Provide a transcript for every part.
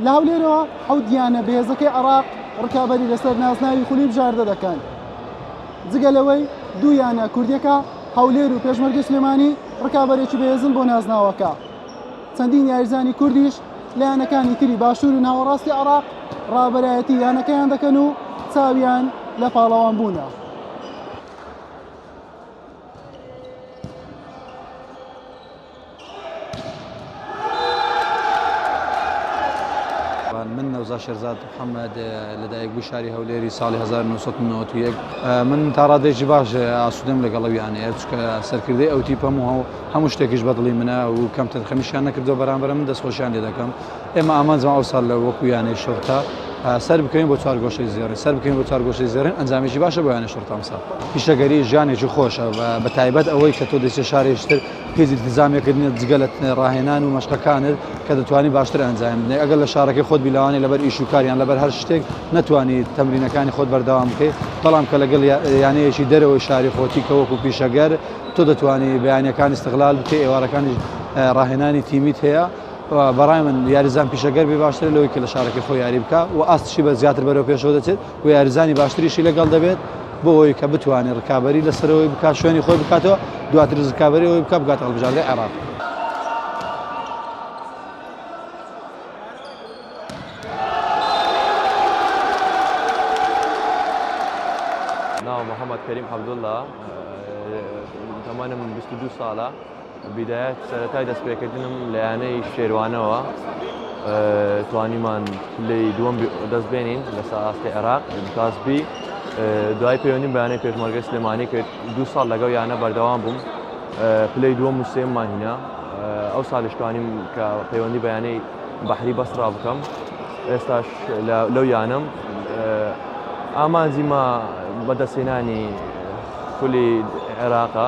لە هەولێرەوە حەوت یانە بێزەکەی عراق ڕکابەری لەسەر نازناوی خولی بژاردە دەکەن جگە لەوەی دوو یانە کوردیەکە هەولێر و پێشمەرگە سلێمانی ڕکابەرێکی بەێزن بۆ نازناوەکە چەندین یاریزانی کوردیش لە یانەکانی تری باشوور و ناوەڕاستی عراق ڕابەرایەتی یانەکەیان دەکەن و چاویان لە پاڵەوان بوونە. من نەوزا شێرزاد محەممەد لە دایکبوو شاری هەولێری ساڵی 1991 من تا ڕادێکی باش ئاسوودەم لەگەڵەویانە چکە سەرکردی ئەو تیپەم و هەموو شتێکیش بەدڵی منە و کەم تەرخەمیشیان نەکردو بەرامبەر من دەستخۆشیان لێ دەکەم ئێمە ئامانجمان ئەوساڵ لە وەکو یانەی شوڕتە سەر بکەوین بۆ چوار گۆشەی زێڕین سەر بکەین بۆ چوار گۆشەی زێڕین ئەنجامێکی باشە بۆ یانەی شوڕتە ئەمساڵ پیشەگەری ژیانێکی خۆشە بە تایبەت ئەوەی کە تۆ دەچێت شارێکی تر هیچ التزامێکت نییە جگە لە ڕاهێنان و مەشقەکانت کە دەتوانی باشتر ئەنجام بدەیت ئەگەر لە شارەکەی خۆت بی لەوانەیە لەبەر ئیش و کاریان لەبەر هەر شتێک نەتوانی تەمرینەکانی خۆت بەردەوام بکەیت بەڵام کە لەگەڵ یا- یانەیەکی دەرەوەی شاری خۆتی کە وەکو پیشەگەر تۆ دەتوانی بەیانەکانی استغلال بکەی ئێوارەکانیش اه، ڕاهێنانی تیمیت هەیە بەڕای من یاریزان پیشەگەر بێ باشترە لەوەی کە لە شارەکەی خۆ یاری بکە و ئاستشی بە زیاتر بەرەو پێشەوە دەچێت و یاریزانی باشتریشی لەگەڵ دەبێت بۆ ئەوی کە بتوانێت ڕکابی لەسەرەوەی بک شوێنی خۆی بکاتەوە دواتر ڕکابی ئەوی بکە بگات هەڵبژاردە عێراق. ناو محەممەد کەریم عبدله تەمانە من 22 ساڵە بدايەت سەرەتای دەستپێکردنم لە یانەی شێروانەوە توانیمان پلەی دووەم دەست بێنین لەسەر ئاستی عێراق کاس بی دوای پەیوەندیم بەیانەی پێشمەرگە سلێمانی کرد دو ساڵ لەگەڵ یانە بەردەوام بووم پلەی دووە موسێم ماهینە ئەو سالیشتوانیم کە پەیوەندی بەیانەی بەحری بەسرا بکەم ئێستاش لەو یانم ئامانجی ما بەدەستێنانی خولی عێراقە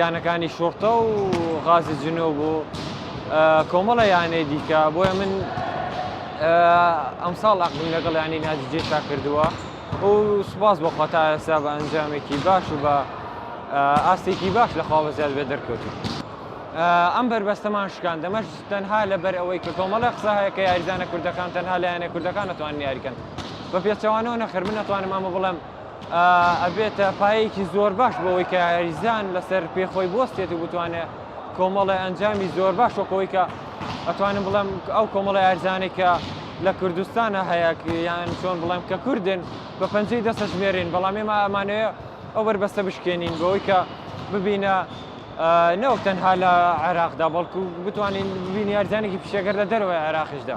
یانەکانی شوڕتە و غازی جنوب و کۆمەڵە یانەی دیکە بۆیە من ئەمساڵ عقدم لەگەڵ یانی نادی جێشا کردووە و سوپاس بۆ خۆتا ئێستا بە ئەنجامێکی باش و بە ئاستێکی باش لە خوا بەزیاد بێ دەرکەوتن ئەم بەربەستەمان شکان دەمەش تەنها لەبەر ئەوەی کە کۆمەڵە قسە هەیە کە یاریزانە کوردەکان تەنها لایەنە کوردەکان نتوان یاریکەن بە پێچەوانەوە نەخر من نتوانم ئەمە بڵێم ئەبێتە پایەیەکی زۆر باش بۆ ئەوەی کە یاریزان لەسەر پێ خۆی بوەستێت و بتوانێت کۆمەڵی ئەنجامی زۆر باش وەکەوەی کە ئەتوانم بڵێم ئەو کۆمەڵە یارزانێ کە لە کوردستانە هەیە یان چۆن بڵێم کە کوردن بە پەنجەی دەستە ژمێرین بەڵام ئێمە ئەمانەیە ئەو بەربەستە بشکێنین بەوەی کە ببینە نەوەک تەنها لە عێراقدا بەڵکو بتوانین ببین یارزانێکی پیشەگەر لە دەرەوەی عێراقیشدا.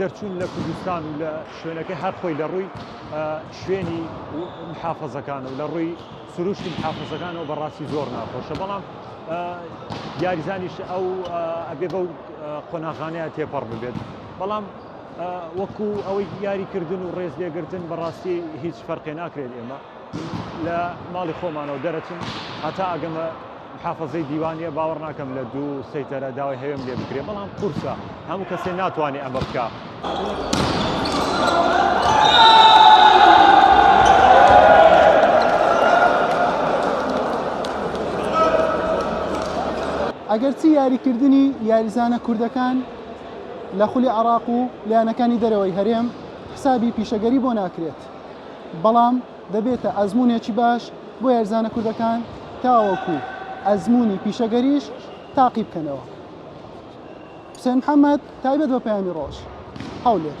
دەرچوون لە کوردستان و لە شوێنەکە هەر خۆی لە ڕووی شوێنی محافظەکان و لە ڕووی سروشتی محافظەکانەوە بەڕاستی زۆر ناخۆشە بەڵام یاریزانیش ئەو ئەبێ بەو قۆناغانەیە تێپەڕ ببێت بەڵام وەکو ئەوەی یاریکردن و ڕێز لێگرتن بەڕاستی هیچ فەرقێ ناکرێت ئێمە لە ماڵی خۆمانەوە دەرەچم هەتا ئەگەمە محافەزەی دیوانیە باوەڕ ناکەم لە دوو سەیتەرە داوای هەوێم لێ بکرێ بەڵام قورسە هەموو کەسێ ناتوانێ ئەمە بکە ئەگەرچی یاریکردنی یاریزانە کوردەکان لە خولی عراق و لایەنەکانی دەرەوەی هەرێم حسابی پیشەگەری بۆ ناکرێت بەڵام دەبێتە ئەزموونێکی باش بۆ یاریزانە کوردەکان تاوەکو ئەزموونی پیشەگەریش تاقی بکەنەوە. حوسێن محەمەد، تایبەت بە پەیامی ڕۆژ. هەولێر.